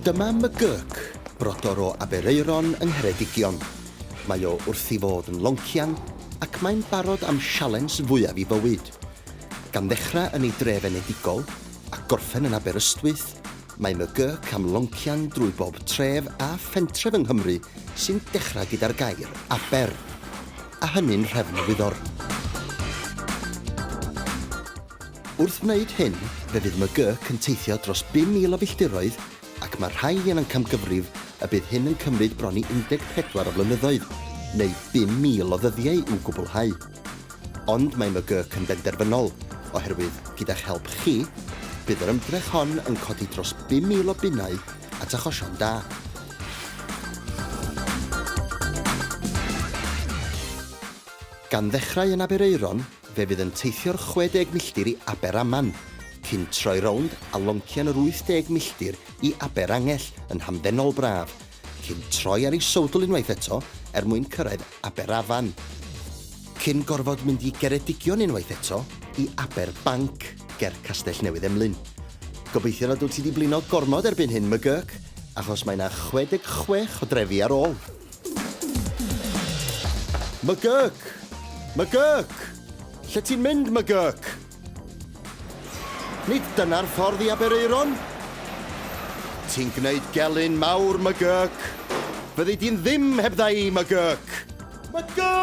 Dyma McGurk, brodor o Aberaeron yng Ngheredigion. Mae o wrth i fod yn loncian ac mae'n barod am sialens fwyaf i fywyd. Gan ddechrau yn ei dref enedigol a gorffen yn Aberystwyth, mae McGurk am loncian drwy bob tref a phentref yng Nghymru sy'n dechrau gyda'r gair 'Aber'. a hynny'n nhrefn-wyddor. Wrth wneud hyn, fe fydd McGurk yn teithio dros 5,000 o filltiroedd ac mae rhai yn amcamgyfrif y bydd hyn yn cymryd bron i 14 o flynyddoedd, neu 5,000 o ddyddiau i'w gwblhau. Ond mae McGurk yn benderfynol, oherwydd, gyda'ch help chi, bydd yr ymdrech hon yn codi dros 5,000 o bunnau at achosion da. Gan ddechrau yn Aberaeron, fe fydd yn teithio'r 60 milltir i Aberaman, cyn troi rownd a loncian yr 80 milltir i Aberangell yn hamddenol braf, cyn troi ar ei sowdl unwaith eto er mwyn cyrraedd Aberafan, cyn gorfod mynd i Geredigion unwaith eto i Aber Banc ger Castell Newydd Emlyn. Gobeithio nad wyt ti 'di blino gormod erbyn hyn, McGurk, achos mae 'na 66 o drefi ar ôl. McGurk! McGurk! Lle ti'n mynd, McGurk? Nid dyna'r ffordd i Aberaeron! Ti'n gwneud gelyn mawr, McGurk! Fyddi di'n ddim heb dda i, McGurk! McGurk!